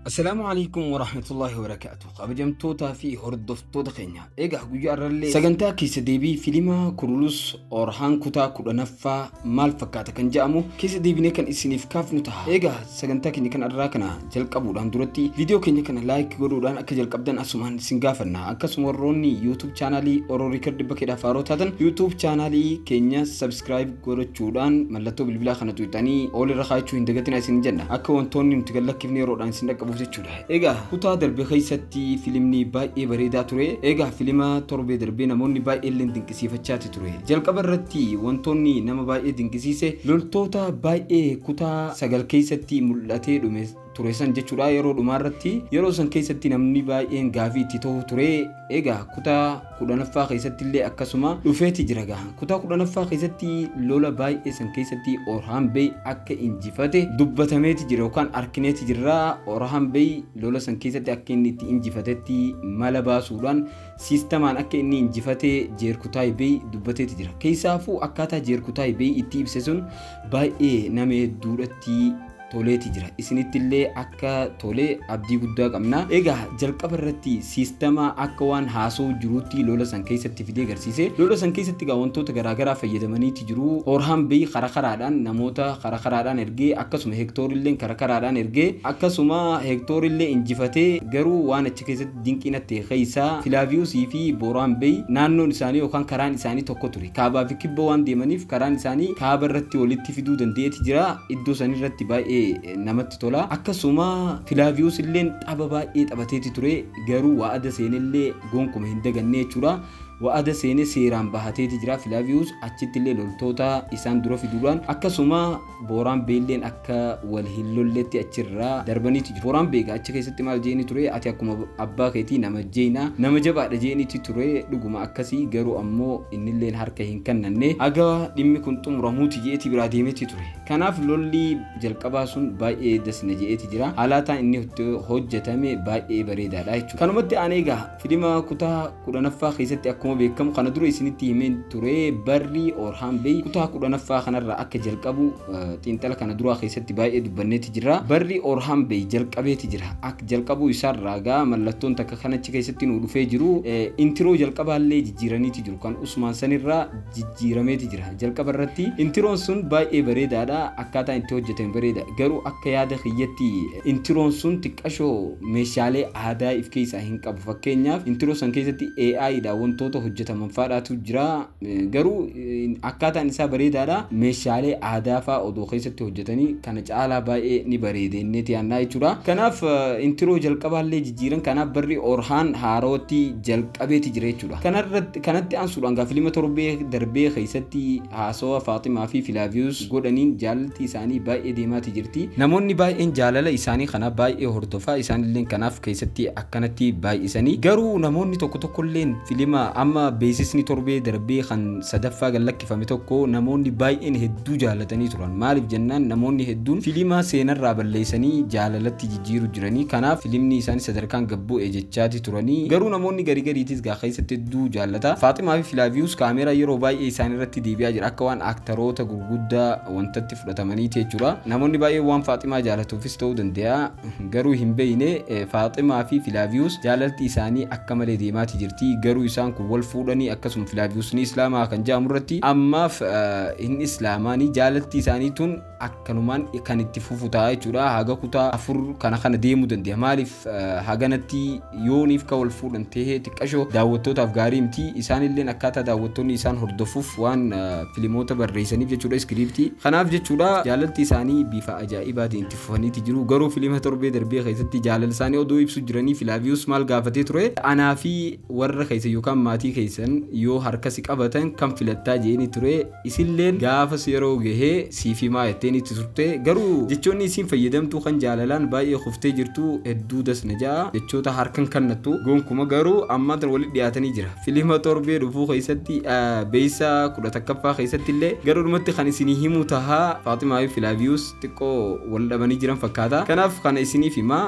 Assalaamu alaikum wa rahmatullahi wa barakaatu. Kabajamtootaa fi hordoftoota keenya. Egaa guyyaa irrallee sagantaa keessa deebii filima Kurulus Orhaan kutaa kudhanaffaa maal fakkaata kan jedhamu keessa deebinee kan isiniif kaafnu ta'a. Egaa sagantaa keenya kan irraa kana jalqabuudhaan duratti viidiyoo keenya kana laayik godhuudhaan akka jalqabdan asumaan isin gaafanna. Akkasuma warroonni YouTube chaanaalii Oro Record bakkeedhaaf haaroo taatan YouTube chaanaalii keenya subscribe godhachuudhaan mallattoo bilbilaa kana tuqxanii ol irra kaa'achuu hin dagatinaa isin jenna akka wantoonni nuti gad lakkifne yeroodhaan isin dhaqqabuuf jechuudha. Egaa kutaa darbe keessatti filimni baay'ee bareedaa ture. Egaa filima torbee darbee namoonni baay'ee illee dinqisiifachaati ture. Jalqaba irratti wantoonni nama baay'ee dinqisiise loltoota baay'ee kutaa sagal keessatti mul'atee dhume ture san jechuudha yeroo dhumaa irratti yeroo san keessatti namni baay'een gaafii itti ta'u ture egaa kutaa kudhanaffaa keessatti illee akkasuma dhufeeti jira gaa kutaa kudhanaffaa keessatti lola baay'ee san keessatti Orhan Bey akka injifate dubbatameeti jira yookaan arkineeti jirra Orhan Bey lola san keessatti akka inni itti injifatetti mala baasuudhaan siistamaan akka inni injifate jeerkutaay Bey dubbateeti jira keessaafuu akkaataa jeerkutaay Bey itti ibse sun baay'ee nama hedduudhatti toleeti jira isinitti illee akka tole abdii guddaa qabna egaa jalqaba irratti siistama akka waan haasoo jiruutti lola san keessatti fidee garsiise lola san keessatti egaa wantoota garaagaraa fayyadamaniiti jiru hoorhaan beeyi kara karaadhaan namoota kara karaadhaan ergee akkasuma heektoor illee kara karaadhaan ergee akkasuma heektoor illee injifatee garuu waan achi keessatti Dinqii natti ta'e keessaa Filaaviyusii fi Booraan Beey naannoon isaanii yookaan karaan isaanii tokko ture. Kaabaa fi kibba waan deemaniif karaan isaanii kaaba irratti walitti fiduu danda'eeti jira. Iddoo san irratti baay'ee namatti tola. Akkasuma Filaaviyus illeen xaba baay'ee xabateeti ture. Garuu wa'ada seene illee gonkuma hin daganne jechuudha. Wa'ada seene seeraan bahateeti jira Filaaviyus. Achitti illee loltoota isaan dura fiduudhaan akkasuma Booraan Beelleen akka wal hin lolletti achirraa darbaniiti jiru. Booraan Beegaa achi keessatti maal je'eeni ture, ati akkuma abbaa keetii nama jeeyna, nama jabaadha je'eeniiti ture, dhuguma akkasi, garuu ammoo innilleen harka hin kannanne, haga dhimmi kun xumuramuuti je'eeti biraa deemeeti ture. Kanaaf lolli jalqabaa sun baay'ee das na je'eeti jira. Haalaataan inni itti hojjatame baay'ee bareedaadha jechuudha. Kanumatti aanee egaa Filima kutaa kudhanaffaa keessatti akkuma beekamu kana dura isinitti himeen ture barri Orhaan Bey kutaa kudhanaffaa kanarraa akka jalqabu xiinxala kana duraa keessatti baay'ee dubbanneeti jira. Barri Orhaan Bey jalqabeeti jira. Akka jalqabuu isaarraa gaa mallattoon takka kan achi keessatti nuu dhufee jiru intiroo jalqabaallee jijjiiraniiti jiru. Kan Usmaan sanirraa jijjiirameeti jira. Jalqaba irratti intiroon sun baay'ee bareedaadha. Akkaataa itti hojjetame bareeda. Garuu akka yaada kiyyatti intiroon sun xiqqashoo meeshaalee aadaa if keessaa hin qabu. Fakkeenyaaf intro san keessatti AI dha wantoota hojjetaman faadhaatu jira. Garuu akkaataan isaa bareedaadha. Meeshaalee aadaa faa odoo keessatti hojjetanii kana caalaa baay'ee ni bareeda inneeti yaannaa jechuudha. Kanaaf intro jalqabaallee jijjiiran kanaaf barri Orhaan haarootti jalqabeeti jira jechuudha. Kanarratti kanatti aansuudhaan gaa filima torbee darbee keessatti Haasawa Faaximaa fi Filaaviyus godhaniin jaalalti isaanii baay'ee deemaati jirti. Namoonni baay'een jaalala isaanii kana baay'ee hordofa. Isaanilleen kanaaf keessatti akkanatti baay'isanii. Garuu namoonni tokko tokkolleen filima amma beeksisni torbee darbee kan sadaffaa gad lakkifame tokko namoonni baay'een hedduu jaalatanii turan. Maaliif jennaan namoonni hedduun filima seenarraa balleessanii jaalalatti jiiru jiranii kanaaf filimnii isaani sadarkaan gad bu, e jechaati turanii garuu namoonni gari gariitis gaa keessatti hedduu jaallata Faaximaa fi Filaaviyuus kaameeraa yeroo baay'ee isaani irratti deebi'aa jira akka waan aaktaroota gurguddaa wantatti fudhatamaniiti jechuudha namoonni baay'een waan Faaximaa jaalatuufis ta'uu dande'a garuu hin beeyne Faaximaa fi Filaaviyuus jaalalti isaanii akka malee deemaati jirti garuu isaan kun wal fuudhanii akkasuma Filaaviyuus ni islaamaa kan ja'amu irratti ammaaf hin islaamaani jaalalti isaanii tun akkanumaan kan itti fufu ta'a jechuudha. Haga kutaa afur kana kana deemuu dandeenya. Maaliif haganatti yooniif ka wal fuudhan ta'ee xiqqashoo daawwattootaaf gaarii miti. Isaanilleen akkaataa daawwattoonni isaan hordofuuf waan filimoota barreessaniif jechuudha iskiriiptii. Kanaaf jechuudha jaalalti isaanii bifa ajaa'ibaatiin itti fufaniiti jiru. Garuu filima torbee darbee keessatti jaalala isaanii odoo ibsu jiranii Filaaviyus maal gaafatee ture? Anaa fi warra keessan yookaan maatii keessan yoo harka si qabatan kam filattaa jeeni ture. Isilleen gaafas yeroo gahee siif himaa jetteen itti turte garuu jechoonni isiin fayyadamtu kan jaalalaan baay'ee kuftee jirtu hedduu das na ja'a jechoota harkan kannattu gonkuma garuu ammaan tana walitti dhiyaatanii jira filima torbee dhufuu keessatti beeysa kudha takkaffaa keessatti illee garuudhumatti kan isinii himuu taha Faaximaa fi Filaaviyuus xiqqoo wal dhabanii jiran fakkaata kanaaf kana isiniif himaa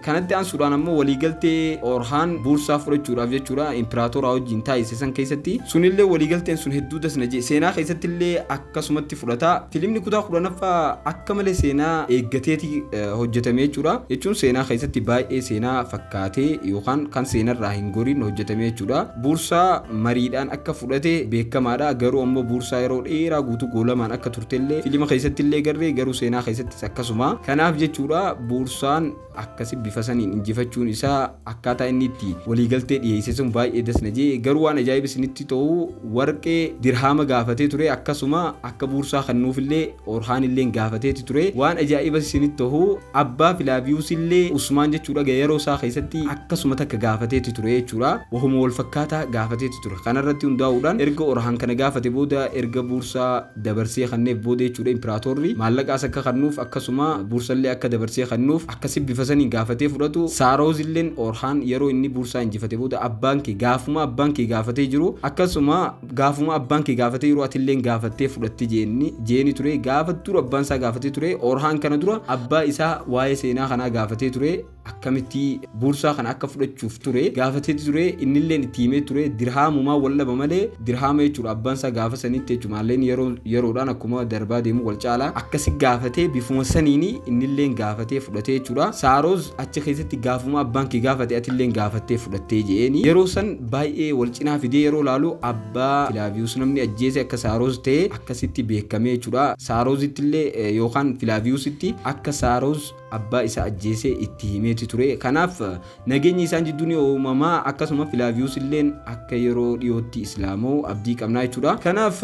Kanatti aansuudhaan ammoo waliigaltee Oorhaan Buursaa fudhachuudhaaf jechuudha Impiraatooraa wajjin taasise san keessatti sunillee waliigalteen sun hedduu das na jee seenaa keessatti illee akkasumatti fudhata filimni kutaa kudhanaffaa akka malee seenaa eeggateeti eh, hojjetame jechuudha jechuun seenaa keessatti baay'ee seenaa fakkaatee yookaan kan seenarraa hin goriin hojjetame jechuudha Buursaa mariidhaan akka fudhate beekamaadha garuu ammoo Buursaa yeroo dheeraa guutuu goolamaan akka turtellee filima keessatti illee garree garuu seenaa keessatti akkasuma. Kanaaf jechuudha Boorsaan akkasi bifa saniin injifachuun isaa akkaataa inni itti waliigaltee dhiyeesse sun baay'ee das na jee garuu waan ajaa'iba isinitti ta'u warqee dirhaama gaafatee ture akkasuma akka Boorsaa kennuufillee Orhaan illee gaafateeti ture waan ajaa'iba isinitti ta'u abbaa Filaaviyuus illee Usmaan jechuudha yeroo isaa keessatti akkasuma takka gaafateeti ture jechuudha wahuma wal fakkaataa gaafateeti ture kanarratti hundaa'uudhaan erga Orhaan kana gaafate booda erga Boorsaa dabarsee kanneef booda jechuudha impiraatorri maallaqa as akka kannuuf akkasuma buursallee akka dabarsee kannuuf akkasi bifa saniin gaafatee fudhatu saaroozilleen oorhaan yeroo inni buursaa injifate booda abbaan kee gaafuma abbaan kee gaafatee jiru akkasuma gaafuma abbaan kee gaafatee yeroo atilleen gaafattee fudhatti jeenni jeeni ture gaafa dura abbaan isaa gaafatee ture oorhaan kana dura abbaa isaa waa'ee seenaa kanaa gaafatee ture akkamitti boorsaa kana akka fudhachuuf ture gaafatee ture innilleen itti himee ture dirhaamumaa wal dhaba malee dirhaama jechuudha abbaan isaa gaafa sanitti jechuudha maalleen yeroo yeroodhaan akkuma darbaa deemu wal caala akkasi gaafatee bifuma saniin innilleen gaafatee fudhatee jechuudha saaroos achi keessatti gaafuma abbaan kee gaafate atilleen gaafattee fudhattee je'eeni yeroo san baay'ee wal cinaa fidee yeroo laalu abbaa filaaviyuus namni ajjeese akka saaroos ta'e akkasitti beekamee jechuudha saaroosittillee yookaan filaaviyuusitti akka saaroos abbaa isaa ajjeese itti himeeti ture. Kanaaf nageenyi isaan jidduu ni uumama akkasuma Filaaviyuus illeen akka yeroo dhiyootti Islaama'u abdii qabnaa jechuudha. Kanaaf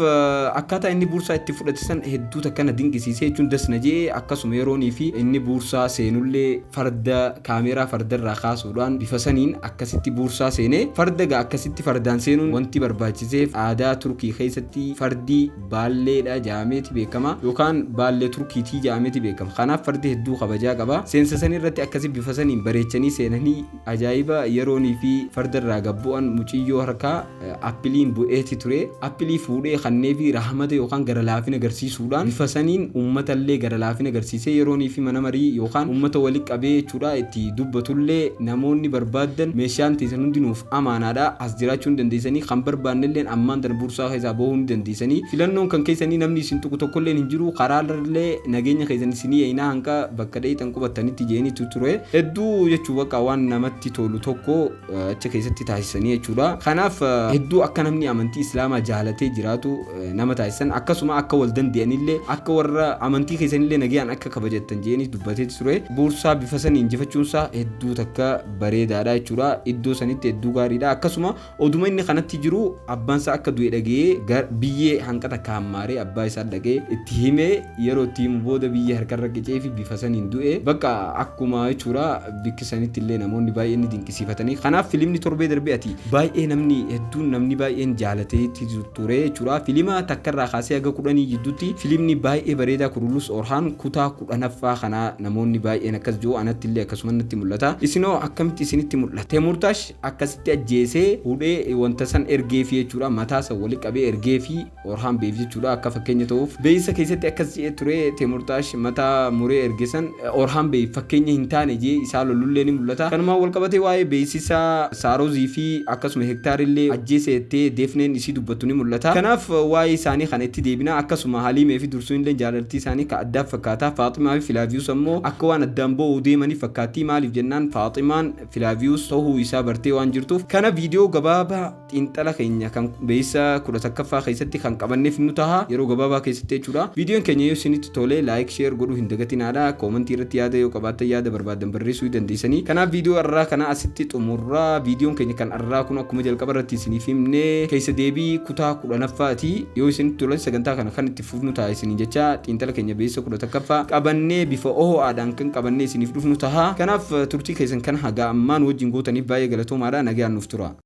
akkaataa inni buursaa itti fudhate san hedduu takka na dinqisiisee jechuun das na je'e akkasuma yeroonii fi inni buursaa seenullee farda kaameeraa fardarraa kaasuudhaan bifa saniin akkasitti buursaa seene. Farda egaa akkasitti fardaan seenuun wanti barbaachiseef aadaa Turkii keessatti fardi Baalleedha ja'ameeti beekama yookaan Baallee Turkiitii ja'ameeti beekama. Kanaaf fardi hedduu kabajaa qaba. Seensa sanii irratti akkasi bifa saniin bareechanii seenanii ajaa'iba yeroonii fi farda irraa gad bu'an muciyyoo harkaa appiliin bu'eeti ture. Appilii fuudhee kanneefi rahamata yookaan gara laafina garsiisuudhaan bifa saniin ummata illee gara laafina garsiisee yeroonii fi mana marii yookaan ummata wali qabee jechuudha itti dubbatullee namoonni barbaaddan meeshaan teessan hundi nuuf amaanaadha. jiraachuu ni dandeessanii kan barbaannelleen ammaan tana bursaa keessaa bahuu ni dandeessanii filannoon kan keessanii namni isin tuqu tokkolleen hin jiru karaarrallee nageenya keessan isinii eeynaa hanga bakka dheeyxan qubattanitti jeeniitu ture hedduu jechuu baqa waan namatti tolu tokko achi keessatti taasisanii jechuudha kanaaf hedduu akka namni amantii islaamaa jaalatee jiraatu nama taasisan akkasuma akka wal dandeeyanillee akka warra amantii keessanillee nagayaan akka kabajattan jeeniitu dubbatee ture bursaa bifa saniin injifachuunsaa hedduu takka bareedaadha jechuudha. Iddoo sanitti hedduu gaariidha. Akkasuma oduma inni kanatti jiru abbaan isaa akka du'e dhaga'ee gar- biyyee hanqata akka hammaaree abbaa isaa dhaga'ee itti himee yeroo itti himu booda biyyee harkarra qicee fi bifa saniin du'e. Bakka akkuma jechuudha bikki sanitti illee namoonni baay'een ni dinqisiifatanii. Kanaaf filimni torbee darbee ati baay'ee namni hedduun namni baay'een jaalatee itti ture jechuudha. Filima takkarraa kaasee haga kudhanii jidduutti filimni baay'ee bareedaa Kurulus Orhaan kutaa 10ffaa kana namoonni baay'een akkas jiru anatti illee akkasuman natti mul'ata isinoo akkamitti isinitti mul'ata Temurtash akkasitti ajjeesee hudhee wanta san ergeefi jechuudha mataa san wali qabee ergeefi Orhaan Beef jechuudha akka fakkeenya ta'uuf beeysa keessatti akkas je'ee ture Temurtash mataa muree erge san Orhaan Beef fakkeenya hin taane je'ee isaa lolullee ni mul'ata kanumaan wal qabatee waa'ee beeysisa Saarozii fi akkasuma Hektaar illee ajjeese jettee Deefneen isii dubbattu ni mul'ata kanaaf waa'ee isaanii kana itti deebina akkasuma Haliimee fi Sunilleen jaalaltii isaanii ka addaa fakkaata. Faaximaa fi Filaaviyuus ammoo akka waan addaan ba'uu deemanii fakkaatti. Maaliif jennaan Faaximaan Filaaviyuus ta'uu isaa bartee waan jirtuuf. Kana viidiyoo gabaabaa xiinxala keenya kan beeysa 11ffaa keessatti kan qabanneef nu taha. Yeroo gabaabaa keessatti jechuudha. Viidiyoon keenya yoo isinitti tole like, share godhuu hin dagatinaadha. Koomantii irratti yaada yoo qabaattan yaada barbaaddan barreessuu ni dandeessanii. Kanaaf viidiyoo arraa kana asitti xumurra. Viidiyoon keenya kan Har'aa kun akkuma jalqaba irratti isiniif himne keessa deebii kutaa kudhanaffaati. Yoo isinitti tole sagantaa kana kan itti fufnu ta'a isiniin jecha xiinxala keenya beessa kudha takkaffaa qabannee bifa oho'aadhaan kan qabannee isiniif dhufnu taha. Kanaaf turtii keessan kan hagaa ammaa nu wajjin gootaniif baay'ee galatoomaadha. Nagaan nuuf tura.